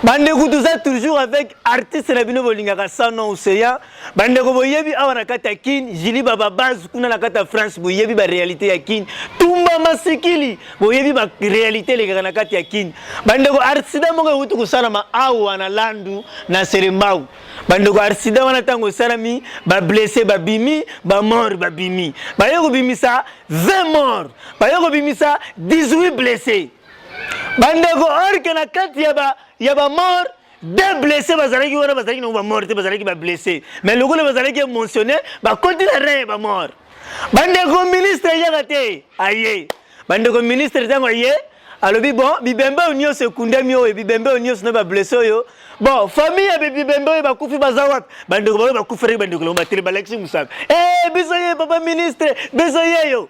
bandeko toza toujours avec artiste na bino bolingaka sanon ocean bandeko boyebi awa na kati ya kin jili bababase kuna na kati ya france boyebi baréalité ya kin tumba masikili boyebi baréalité elekaka na kati ya kin bandeko arsida moko euti kosalama awa na landu na serembau bandeko arsida wana ntango esalami bablesse babimi bamort babimi baye kobimisa 20 mort baye kobimisa 18 blesse bandeko orke na kati ya bamort deux blessés bazalaki wana bazalaki nango bamort te bazalaki bablessé mais lokola bazalaki émotionné bakoti na rein ya bamort bandeko ministre eyaka te aye bandeko ministre ntango aye alobi bon bibembe oyo nyonso ekundami oyo bibembe oyo nyonso na bablesse oyo bon famille ya bibembe oyo bakufi baza wapi bandeko baoyo bakuferaki bandeko lango batele balakisi mosaka e biso ye papa ministre biso yeyo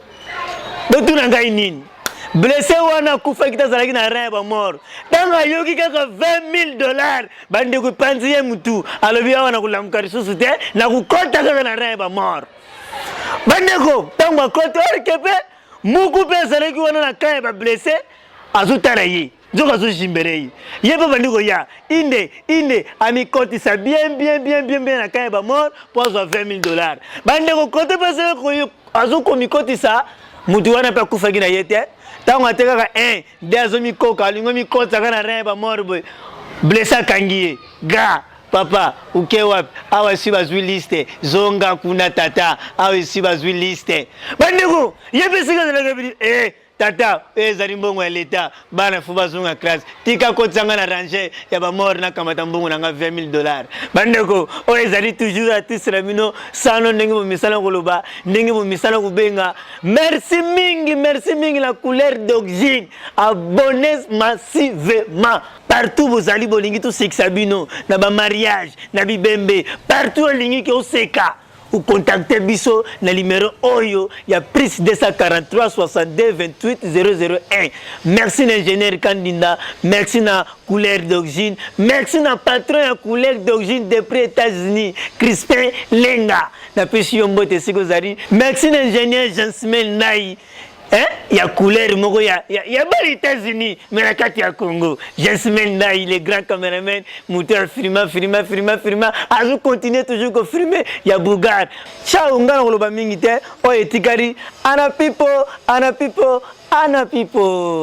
botuna ngai nini blesse wana akufaki te azalaki na rein ya bamort ntango ayoki kaka 20000 dollars bandeko epanzi ye motu alobi awa na kolamuka lisusu te na kokɔta kaka na rein ya bamort bandeko ntango akɔta orke mpe muku mpe azalaki wana na kan ya bablesse azotala ye nzoka azo jimbere ye ye mpe bandi koya inde inde amikotisa bien bien bien bien bien na kaya bamor mpo azwa 20 000 dollars bandeko kote mpe azali azokomikotisa motu wana mpe akufaki na ye te ntango atekaka 1 de azomikoka alingi omikotisaka na rin bamor boye blesse akangi ye ga papa uke wapi awa esi bazwi liste zonga kuna tata awa esi bazwi liste bandeko ye mpe esika azalaka bini e eh, Tata, oyo ezali mbongo ya leta, bana fo bazonga classe. Tika kotisa nga na range ya ba mort na kamata mbongo na nga 20000 dollars. Bandeko, oyo ezali toujours artiste na bino, sano ndenge bomisana koloba, ndenge bomisana kubenga. Merci mingi, merci mingi la couleur d'oxyne. Abonnez massivement. Partout bozali bolingi tosekisa bino na ba mariage, na bibembe, partout olingi ke oseka. Ou contactez biso na numero oyo ya plus 243 62 28 001. Merci na ingénieur Kandinda, merci na couleur d'origine, merci na patron ya couleur d'origine depuis États-Unis, Crispin Lenga. Na pesi yo mbote siko zari. Merci na ingénieur Jansimel Nai. Hein? ya couleur moko ya, ya, ya bana États-Unis mais na kati ya Congo Jasmine Ndai le grand cameraman moto ya filma filma filma filma azo continuer toujours ko filmer ya Bougard chao nga na koloba mingi te oyo etikali ana pipo ana pipo ana pipo